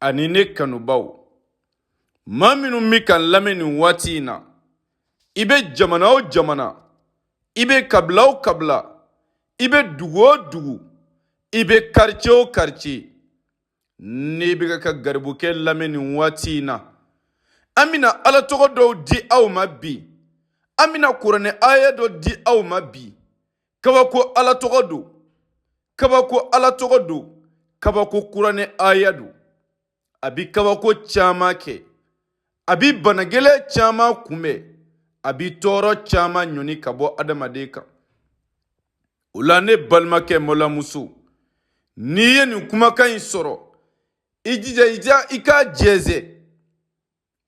ani ne kanubaw maa minnu bɛ n kan lamɛn nin waati in na i bɛ jamana o jamana i bɛ kabila o kabila i bɛ dugu o dugu i bɛ karice o karice n'i bɛ ka garibukɛ lamɛn nin waati in na an bɛna ala tɔgɔ dɔw di aw ma bi an bɛna kuranɛ aya dɔ di aw ma bi kabako ala tɔgɔ don kabako ala tɔgɔ don kabako kuranɛ aya don a bi kabako caman kɛ a bi banagɛlɛ caman kunbɛn a bi tɔɔrɔ caman ɲɔni ka bɔ adamaden kan o la ne balimakɛ malamuso n'i ye nin kumakan in sɔrɔ i jija i k'a jɛnsɛn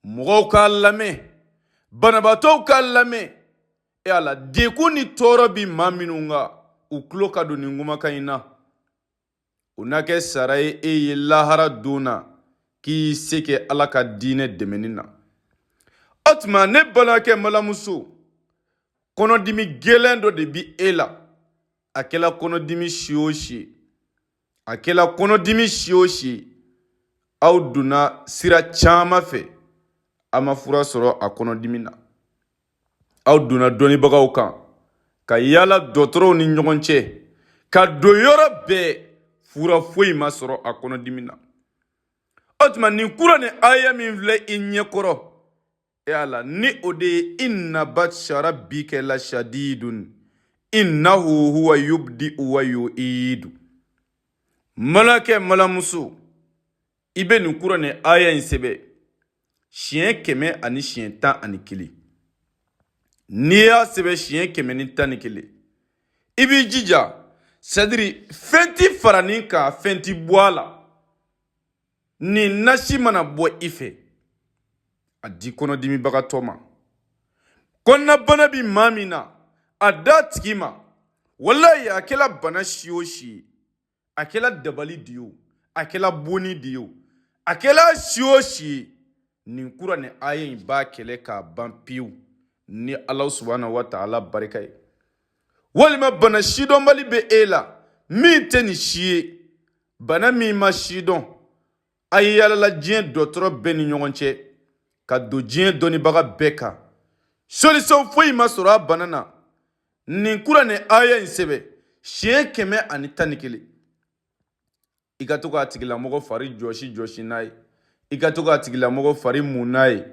mɔgɔw k'a lamɛn banabaatɔw k'a lamɛn e ala degun ni tɔɔrɔ bɛ maa minnu kan u tulo ka don nin kumakan in na o na kɛ sara ye e ye lahara don na k'i se kɛ ala ka diinɛ dɛmɛni na o tuma ne balimakɛ malamuso kɔnɔdimi gɛlɛn dɔ de bɛ e la a kɛla kɔnɔdimi si o si ye a kɛla kɔnɔdimi si o si ye aw donna sira caman fɛ a ma fura sɔrɔ a kɔnɔdimi na aw donna dɔnnibagaw kan ka yala dɔgɔtɔrɔw ni ɲɔgɔn cɛ ka don yɔrɔ bɛɛ fura foyi ma sɔrɔ a kɔnɔdimi na o tuma nin kuranɛ aya min filɛ i ɲɛkɔrɔ e ala ni o de ye inna batsha rabbika la shadidun innahu huwa yubdi wa yu'idu malakɛ malamuso i bɛ nin kuranɛ aya in sɛbɛn siɲɛ kɛmɛ ani siɲɛ tan ani kelen n'i y'a sɛbɛn siɲɛ kɛmɛ ni tan ni kelen i b'i jija sadiri fɛn ti fara nin kan fɛn ti bɔ a la nin nasi mana bɔ i fɛ a di kɔnɔdimibagatɔ ma kɔnɔnabana bi maa min na a d'a tigi ma walayi a kɛla bana si o si ye a kɛla dabali de ye o a kɛla bonni de ye o a kɛla si o si ye nin kuranɛ aya in b'a kɛlɛ k'a ban pewu ni ala subahana wa taala barika ye walima bana sidɔnbali bɛ e la min tɛ nin si ye bana min ma sidɔn aw yalala diɲɛ dɔgɔtɔrɔ bɛɛ ni ɲɔgɔn cɛ ka don diɲɛ dɔnnibaga bɛɛ kan solisɔn foyi ma sɔrɔ a bana na nin kuranɛ aya in sɛbɛn siɲɛ kɛmɛ ani tan ni kelen i ka to k'a tigilamɔgɔ fari jɔsi jɔsi n'a ye i ka to k'a tigilamɔgɔ fari mun n'a ye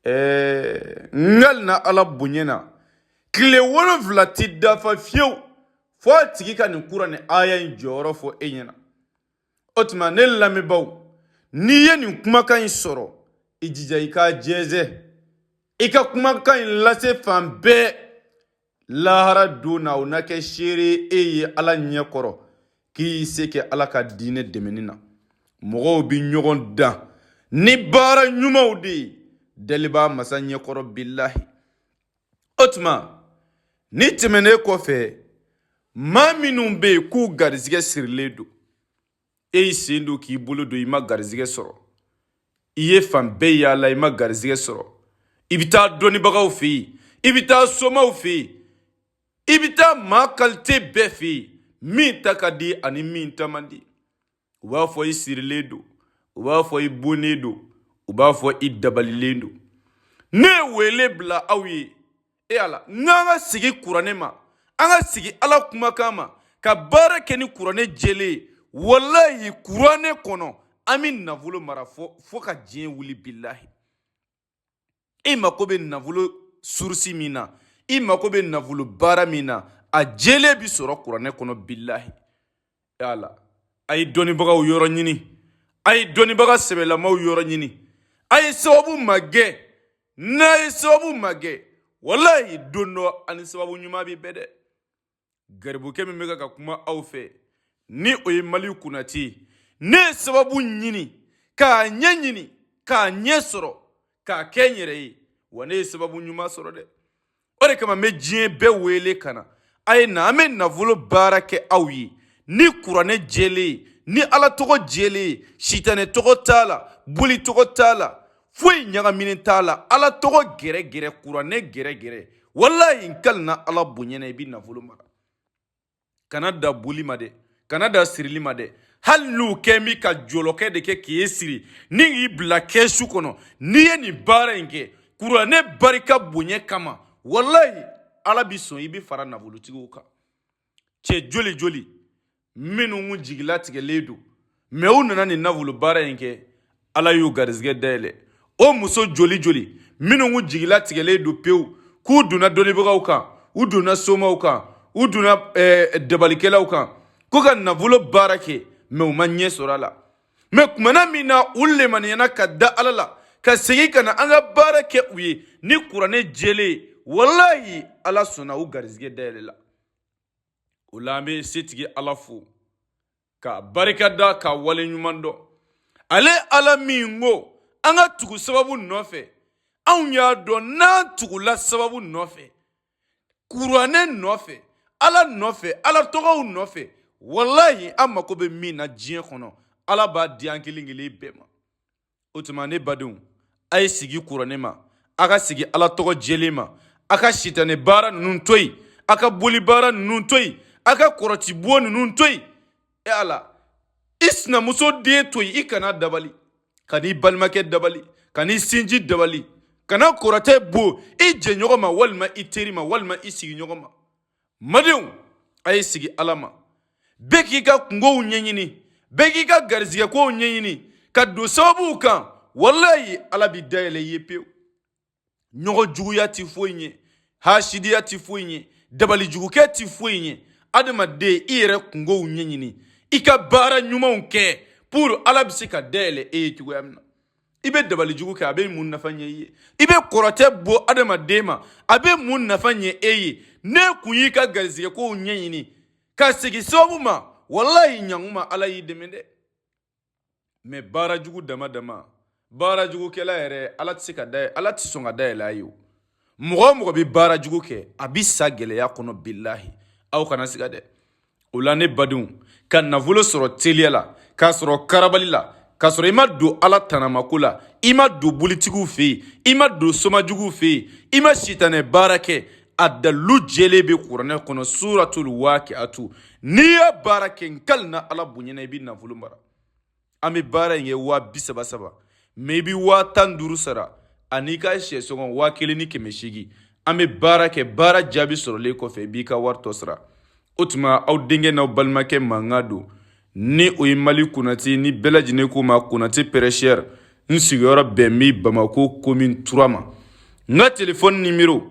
ɛɛ n kalila ala bonya na tile wolonfila ti dafa fiyewu fo a tigi ka nin kuranɛ aya in jɔyɔrɔ fɔ e ɲɛ na o tuma ne lamɛnbaaw n'i ye nin kumakan in sɔrɔ i jija i k'a jɛnsɛn i ka kumakan in lase fan bɛɛ lahara don na o na kɛ seere e ye ala ɲɛ kɔrɔ k'i se kɛ ala ka diinɛ dɛmɛni na mɔgɔw bɛ ɲɔgɔn dan ni baara ɲumanw de ye dalibaa masa ɲɛkɔrɔ bilahi o tuma nin tɛmɛnen kɔfɛ maa minnu bɛ yen k'u garizigɛ sirilen don e y'i sen don k'i bolo don i ma garizigɛ sɔrɔ i ye fan bɛɛ yaala i ma garizigɛ sɔrɔ i bɛ taa dɔnnibagaw fɛ yen i bɛ taa somaw fɛ yen i bɛ taa maa kalite bɛɛ fɛ yen min ta ka di ani min ta man di u b'a fɔ i sirilen don u b'a fɔ i bonnen don u b'a fɔ i dabalilen don ne ye wele bila aw ye e ala n'an ka sigi kuranɛ ma an ka sigi ala kumakan ma ka baara kɛ ni kuranɛ jɛlen ye walayi kuranɛ kɔnɔ an bɛ nafolo mara fo fo ka diɲɛ wuli bilahi i mako bɛ nafolo surusi min na i mako bɛ nafolo baara min na a jɛlen bi sɔrɔ kuranɛ kɔnɔ bilahi yala a ye dɔnnibagaw yɔrɔ ɲini a ye dɔnnibaga sɛbɛlamaw yɔrɔ ɲini a ye sababu magɛn n'a ye sababu magɛn walayi don dɔ a ni sababu ɲuman bɛ bɛn dɛ garibukɛ min bɛ ka kuma aw fɛ ni o ye maliki konate ye ne ye sababu ɲini k'a ɲɛ ɲini k'a ɲɛ sɔrɔ k'a kɛ n yɛrɛ ye wa ne ye sababu ɲuman sɔrɔ dɛ o de kama n bɛ diɲɛ bɛɛ wele ka na a ye na an bɛ nafolo baara kɛ aw ye ni kuranɛ jɛlen ye ni ala tɔgɔ jɛlen ye sitanɛ tɔgɔ t'a la boli tɔgɔ t'a la foyi ɲagaminen t'a la ala tɔgɔ gɛrɛgɛrɛ kuranɛ gɛrɛgɛrɛ walayi n kalina ala bonya na i bi nafolo mara kana da boli ma dɛ kana da sirili ma dɛ hali n'u kɛ mi ka jɔlɔkɔ de kɛ k'e siri ni k'i bila kɛsu kɔnɔ n'i ye nin baara in kɛ kuranɛ barika bonya kama walayi ala bi sɔn i bi fara nafolotigiw kan cɛ joli joli minnu jigilatigɛlen don mɛ u nana nin nafolo baara in kɛ ala y'u garizigɛ dayɛlɛ o muso joli joli minnu jigilatigɛlen don pewu k'u donna dɔnnibagaw kan u donna somaw kan u donna eh, dabalikɛlaw kan ko ka nafolo baara kɛ mɛ u ma ɲɛ sɔrɔ a la mɛ tuma na min na u lemaniyana ka da ala la ka segin ka na an ka baara kɛ u ye ni kuranɛ jɛlen ye walayi ala sɔnna u garizigɛ dayɛlɛla o la an bɛ setigi ala fo ka barika da ka wale ɲuman dɔn ale ala min ko an ka tugu sababu nɔfɛ anw y'a dɔn n'an tugula sababu nɔfɛ kuranɛ nɔfɛ ala nɔfɛ ala tɔgɔw nɔfɛ walayi an mako bɛ min na diɲɛ kɔnɔ ala b'a di an kelen kelen bɛɛ ma o tuma ne badenw a ye segin kuranɛ ma a ka segin ala tɔgɔ jɛlen ma a ka sitanɛ baara ninnu to yen a ka boli baara ninnu to yen a ka kɔrɔtibon ninnu to yen e ala i sinamuso den to yen i kan'a dabali kan'i balimakɛ dabali kan'i sinji dabali kana kɔrɔtɛ bon i jɛɲɔgɔn ma walima i teri ma walima i sigiɲɔgɔn ma N badenw a ye segin ala ma bɛɛ k'i ka kungow ɲɛɲini bɛɛ k'i ka garizigɛkow ɲɛɲini ka don sababuw kan walayi ala bɛ da yɛlɛ i ye pewu ɲɔgɔn juguya tɛ foyi ɲɛ hasidiya tɛ foyi ɲɛ dabalijugukɛ tɛ foyi ɲɛ adamaden i yɛrɛ kungow ɲɛɲini i ka baara ɲumanw kɛ pour ala bɛ se ka da yɛlɛ e ye cogoya min na i bɛ dabalijugu kɛ a bɛ mun nafa ɲɛ i ye i bɛ kɔrɔtɛ bon adamaden ma a bɛ mun nafa ɲɛ e ye ne kun y'i ka garizigɛkow ɲɛɲini ka segin sababu ma walayi ɲankuma ala y'i dɛmɛ dɛ mɛ baara jugu dama dama baara jugukɛla yɛrɛ ala tɛ se ka da ala tɛ sɔn ka da yɛlɛ a ye o mɔgɔ o mɔgɔ bɛ baara jugu kɛ a bɛ sa gɛlɛya kɔnɔ bilahi aw kana siga dɛ o la ne badenw ka nafolo sɔrɔ teliya la k'a sɔrɔ karabali la k'a sɔrɔ i ma don ala tanamako la i ma don bolitigiw fɛ yen i ma don somajuguw fɛ yen i ma sitanɛ baara kɛ a dalilu jɛlen bɛ kuranɛ kɔnɔ suratul wakiatu n'i y'a baara kɛ n kalina ala bonya na i bɛ nafolo mara an bɛ baara in kɛ waa bi saba saba mɛ i bɛ waa tan duuru sara an'i ka syɛ sɔngɔ waa kelen ni kɛmɛ seegin an bɛ baara kɛ baara jaabi sɔrɔlen kɔfɛ i b'i ka wari tɔ sara o tuma aw denkɛ n'aw balimakɛ mankan don ni o ye mali konate ni bɛɛ lajɛlen ko n ma konate prêcheur n sigiyɔrɔ bɛn bɛ bamako commune trois ma n ka telefɔni nimero